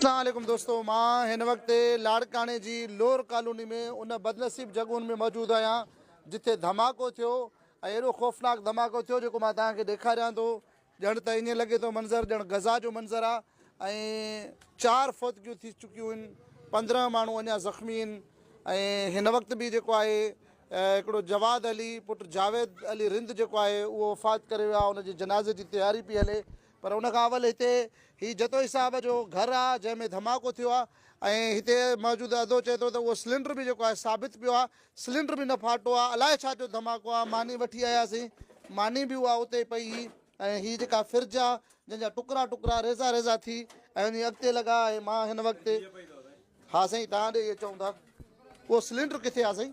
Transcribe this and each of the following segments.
اسلام عليڪم دوستو مان هن وقت لاڙڪاڻي جي لور ڪالوني ۾ ان بدنصيب جڳهن ۾ موجود آهيان جتي ڌماڪو ٿيو ۽ اهڙو خوفناڪ ڌماڪو ٿيو جيڪو مان توهان کي ڏيکاريان ٿو ڄڻ ته ائين لڳي ٿو منظر ڄڻ غزا جو منظر آهي ۽ چار فوتگيون ٿي چڪيون آهن پندرهن ماڻهو اڃا زخمي آهن ۽ هن وقت به جيڪو آهي هڪڙو جواد علي پٽ جاويد علي رند جيڪو آهي اهو وفات ڪري ويو آهي ان جي جنازي جي تياري پئي هلي پر ان کان اول هتي هي جتوئي صاحب جو گهر آ جنهن ۾ ڌماڪو ٿيو آ ۽ هتي موجود عدو چئي ٿو ته اهو سلينڊر به جيڪو آهي ثابت پيو آ سلينڊر به نه ڦاٽو آ الائي ڇا جو ڌماڪو آ ماني وٺي آياسين ماني به اها اتي ئي پئي هئي ۽ هي جيڪا فرج آ جنهن جا ٽڪرا ٽڪرا ريزا ريزا ٿي ۽ وڃي اڳتي لڳا ۽ مان هن وقت ها سائين توهان ڏي اهي چئون ٿا اهو سلينڊر ڪٿي آ سائين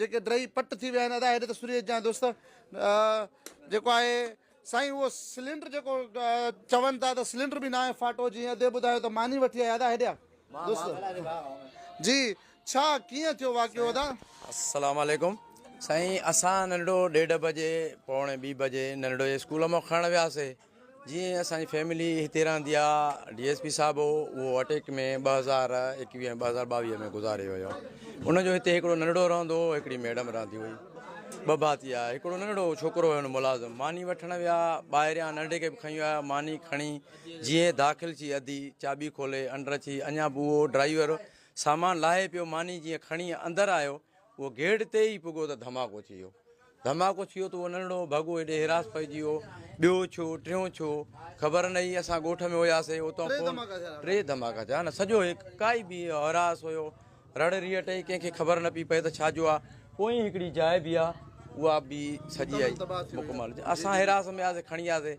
جيڪي ڊهي پٽ ٿي ويا آهن ادا هيڏي ته سري اچ جان دوست جيڪو آهي سائين اهو سلينڊر جيڪو چون ٿا ته سلينڊر به ناهي فاٽو جيئن ادي ٻڌايو ته ماني وٺي آيا ادا هيڏيا دوست جي ڇا ڪيئن ٿيو واقعو ادا السلام عليڪم سائين اسان ننڍو ڏيڍ بجي پوڻي ٻي بجي ننڍڙو اسڪول مان کڻڻ وياسي جي اسان جي فيملي هتي رهندي آ ڊي ايس پي صاحب هو اهو اٽيڪ ۾ ٻه هزار ايڪويهه ٻه هزار ٻاويهه ۾ گذاري ويو ان جو هتي هڪڙو ننڍڙو رهندو هو هڪڙي ميڊم رهندي هئي ٻه ڀاتي آ هڪڙو ننڍڙو ڇوڪرو هو ملازم ماني وٺڻ ويا ٻاهريان ننڍي کي به کڻي ويا ماني کڻي جيئن داخل ٿي اڌي چاٻي کولي انڊر اچي اڃا به اهو ڊرائيور سامان لاهي پيو ماني جيئن کڻي اندر آيو اهو گيٽ تي ئي پڳو ته ڌماڪو ٿي ويو. ڌماڪو ٿي ويو ته اهو ننڍڙو ڀڳو ايڏي حراس پئجي ويو. ٻيو ڇو، ٽيون ڇو، خبر نه هئي. اسان ڳوٺ ۾ هياسين، اتان فون. ٽي ڌماڪا ٿيا. ٽي ڌماڪا ٿيا نه. سڄو هڪ ڪائي به حراس هيو. رڙ ريٽ هئي، ڪنهن کي خبر نه پئي پئي ته ڇا جو آ. پوئين هڪڙي جاء به آ، اها به سڄي آئي مڪمل. مڪمل. اسان حراس ۾ هياسين، کڻي آياسين.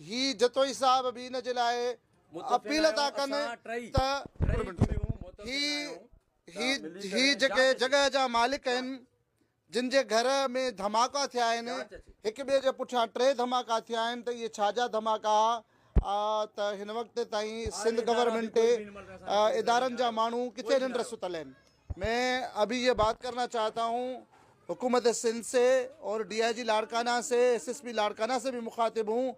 هي جتوئي صاحب به ان جي لاء اپيل ٿا ڪن ته هي هي جيڪي جڳهه جا مالڪ آهن جن جي گهر ۾ ڌماڪا ٿيا آهن هڪ ٻئي جي پٺيان ٽي ڌماڪا ٿيا آهن ته اهي ڇا جا ڌماڪا ته هن وقت تائين سنڌ گورنمينٽ ادارن جا ماڻهو ڪٿي ننڊ ستل آهن مين ابھي يھ بات ڪرنا چاھتا ھون حڪومت سنڌ سي اور ڊي آئي جي لاڙڪانا سي ايس ايس پي لاڙڪانا سي بھي مخاطب ھون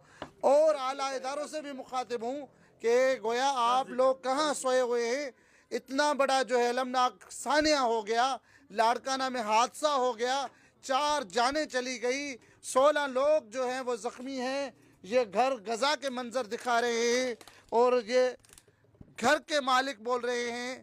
اور اعليٰ ادارو سي بھي مخاطب ھون ڪي گويا آپ لوگ ڪھان سوئي ھوئي ھين اتنا بڙا جو ھي المناڪ سانحا ھو گيا لاڙڪانا مين حادثا ھو گيا چار جانين چلي گئي سولھان لوگ جو ھين وو زخمي ھين يھ گھر غزا ڪي منظر دکا رھي ھين اور يھ گھر ڪي مالڪ بول رھي ھين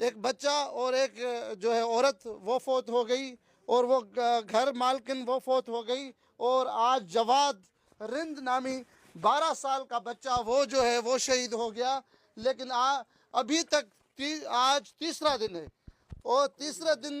ايڪ بچا اور ايڪ جو هي عورت وو فوت هو گئي اور وو گهر مالڪن وو فوت هو گئي اور آج جواد رند نامي بارا سال ڪا بچا وو جو هي وو شهيد هو گيا ليڪن آ ابهي تڪ آج تيسرا دن هي اور تيسرا دن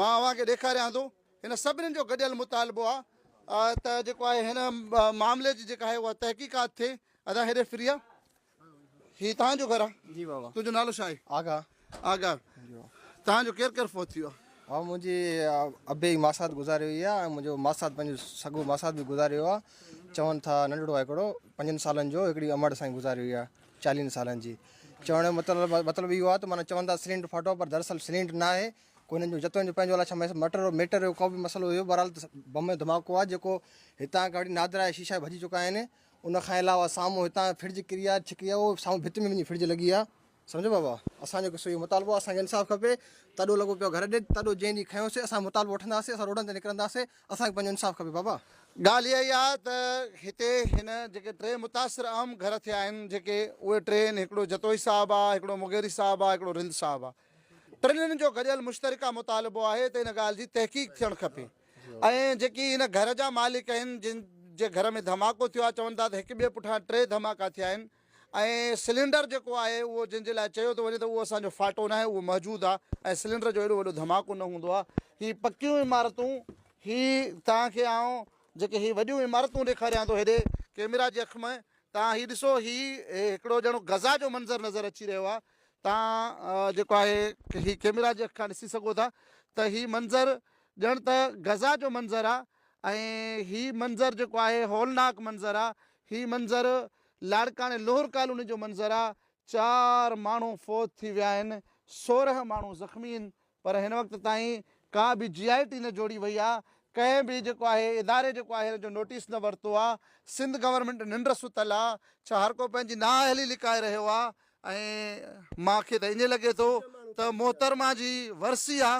مان اوهان کي ڏيکاريان ٿو هن سڀني جو گڏيل مطالبو آ ته جيڪو آهي هن معاملي جي جيڪا آهي اها تحقيقات ٿئي ادا هيڏي فريا هي تان جو گھر آ جي بابا تون جو نالو شاهي آگا آگا تان جو ڪير ڪير فوت ٿيو آ منجي ابي ماسات گذاري وئي آ ۽ منجو ماسات پنجو سگو ماسات به گذاري ويو آ چون ٿا ننڍڙو آ هڪڙو پنجن سالن جو هڪڙي امڙ سائين گذاري وئي آ چاليهن سالن جي چوڻ جو مطلب مطلب اهو آهي ته معنيٰ چون ٿا سلينڊ ڦاٽو پر دراصل سلينڊ نه آهي ڪو هنن جو جتوئن جو پنهنجو الاء ڇا مٽر هو ميٽر هو ڪو به مسئلو هيو بهرحال ته بم ڌماڪو آهي جيڪو هتان کان وٺي نادرا جا شيشا ڀڄي چڪا آهن ان کان علاوه سامهون هتان فرج ڪري آهي ڇڪي آهي اهو سامهون ڀت ۾ وڃي فرج لڳي آهي سمجهيو بابا اسان جو قصو اهو مطالبو آهي اسان کي انصاف کپي تڏو لڳو پيو گهر ڏي تڏو جنهن ڏينهن کنيو سي اسان مطالبو وٺنداسي اسان روڊن تي نڪرنداسي اسان کي پنهنجو انصاف کپي بابا. ڳالهه اها ئي آهي ته هتي هن جيڪي ٽي متاثر اهم گهر ٿيا آهن جيڪي اهي ٽي آهن هڪڙو جتوئي صاحب آهي هڪڙو مغيري صاحب آهي هڪڙو رند صاحب آهي ٽنهن جو گڏيل مشترڪه مطالبو آهي ته ان ڳالهه جي تحقيق ٿيڻ کپي ۽ جيڪي هن گهر جا مالڪ آهن جن جي گهر ۾ ڌماڪو ٿيو آهي چون ٿا ته هڪ ٻئي پٺان ٽي ڌماڪا ٿيا آهن ۽ سلينڊر جيڪو آهي اهو جنهن جي لاء چيو ٿو وڃي ته اهو اسان جو ڦاٽو ناهي اهو محجود آهي ۽ سلينڊر جو ايڏو وڏو ڌماڪو نه هوندو آهي هي پڪيون عمارتون هي توهان کي آئون جيڪي هي وڏيون عمارتون ڏيکاريان ٿو هيڏي ڪيميرا جي اک ۾ توهان هي ڏسو هي هڪڙو ڄڻو غزا جو منظر نظر اچي رهيو آهي توهان جيڪو آهي هي ڪيميرا جي اک کان ڏسي سگهو ٿا ته هي منظر ڄڻ ته غزا جو منظر آهي ۽ هي منظر جيڪو آهي هولناڪ منظر آهي هي منظر لاڙڪاڻي لوهر ڪالوني جو منظر آ چار ماڻهو فوت ٿي ويا آهن سورهن ماڻهو زخمي هن پر هن وقت تائين ڪا به جي آء ٽي نه جوڙي وئي آ ڪنهن به جيڪو آهي اداري جيڪو آهي هن جو نوٽيس نه ورتو آ سنڌ گورنمينٽ ننڊ ستل آ ڇا هر ڪو پنهنجي نااهلي لڪائي رهيو آ ۽ مان کي ته ائين لڳي ٿو ته محترمه جي ورسي آ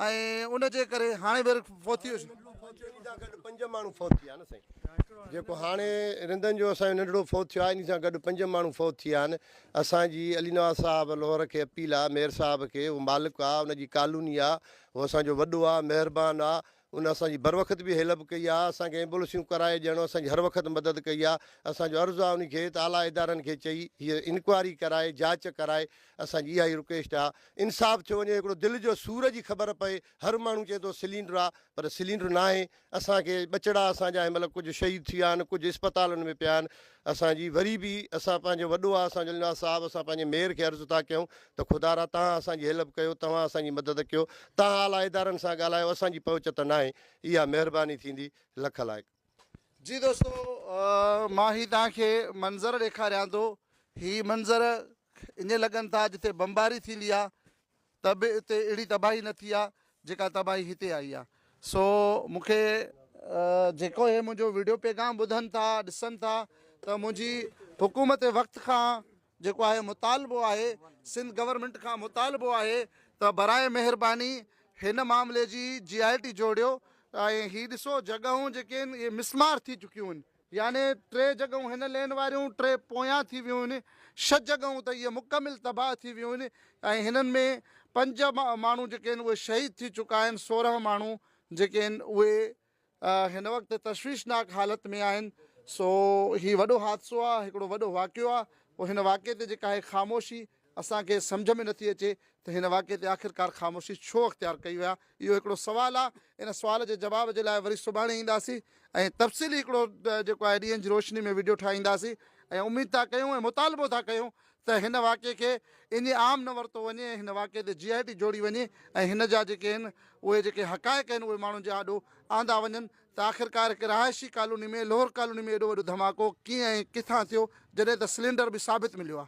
۽ ان جي ڪري هاڻي به فوتي هجي. هاڻي ننڍڙو فوت ٿيو انهي سان گڏ پنج ماڻهو فوت ٿي ويا آهن سائين جيڪو هاڻي رندن جو اسان جو ننڍڙو فوت ٿيو آهي انهي سان گڏ پنج ماڻهو فوت ٿي ويا آهن اسان جي علي نواز صاحب لوهر کي اپيل آ مير صاحب کي هو مالڪ آ ان جي ڪالوني آ هو اسان جو وڏو آ مهربان آ ان اسان جي بروقت به هيلپ ڪئي آ اسان کي ايمبولسيون ڪرائي ڄڻو اسان جي هر وقت مدد ڪئي آ اسان جو عرض آ انهي کي ته اعليٰ ادارن کي چئي هي انڪوائري ڪرائي جاچ ڪرائي اسان جي اها ئي رڪويسٽ آ انصاف ٿيو وڃي هڪڙو دل جو سور جي خبر پئي هر ماڻهو چئي ٿو سلينڊر آ پر سلينڊر ناهي اسان کي ٻچڙا اسان جا هن مهل ڪجهه شهيد ٿي ويا آهن ڪجهه اسپتالن ۾ پيا آهن اسان جي وري به اسان پنهنجو وڏو آ اسان جو النواز صاحب اسان پنهنجي ميئر کي عرض ٿا ڪيون ته خدا را توهان اسان جي هيلپ ڪيو توهان اسان جي مدد ڪيو توهان اعليٰ ادارن سان ڳالهايو اسان جي پهچ ته ناهي اها مهرباني ٿيندي لک لائق. جي دوستو مان هي توهان کي منظر ڏيکاريان ٿو هي منظر ائين لڳن ٿا جتي بمباري ٿيندي آ ته به اتي اهڙي تباهي نه ٿي آ جيڪا تباهي هتي آئي آ سو مون کي جيڪو هي منهنجو ويڊيو پيغام ٻڌن ٿا ڏسن ٿا ته منهنجي حڪومت وقت کان جيڪو آهي مطالبو آهي سنڌ گورنمينٽ کان مطالبو آهي ته براهه مهرباني هن معاملي جي جي آء ٽي جوڙيو ۽ هي ڏسو جڳهون جيڪي آهن اهي مسمار ٿي چڪيون آهن يعني ٽي جڳهون هن لين واريون ٽي پويان ٿي ويون آهن ڇهه جڳهون ته اهي مڪمل تباهه ٿي ويون آهن ۽ هنن ۾ پنج ماڻهو جيڪي آهن اهي شهيد ٿي چڪا آهن سورهن ماڻهو جيڪي آهن اهي هن وقت تشويشناڪ حالت ۾ آهن سو هي وڏو حادثو آهي هڪڙو وڏو واقعو آهي پوء هن واقعي تي جيڪا هي خاموشي اسان کي سمجهه ۾ نٿي اچي ته هن واقعي تي آخرڪار خاموشي ڇو اختيار ڪئي وئي آهي اهو هڪڙو سوال آهي ان سوال جي جواب جي لاء وري سڀاڻي اينداسين ۽ تفصيلي هڪڙو جيڪو آهي ڏينهن جي روشني ۾ وڊيو ٺاهينداسين ۽ اميد ٿا ڪيون ۽ مطالبو ٿا ڪيون ته هن واقعي کي ايئن عام نه ورتو وڃي ۽ هن واقعي تي جي آء ٽي جوڙي وڃي ۽ هن جا جيڪي آهن اهي جيڪي حقائق آهن اهي ماڻهن جي آڏو آندا وڃن ته آخرڪار هڪ رهائشي ڪالوني ۾ لوهر ڪالوني ۾ ايڏو وڏو ڌماڪو ڪيئن ۽ ڪٿان ٿيو جڏهن ته سلينڊر به ثابت مليو آ.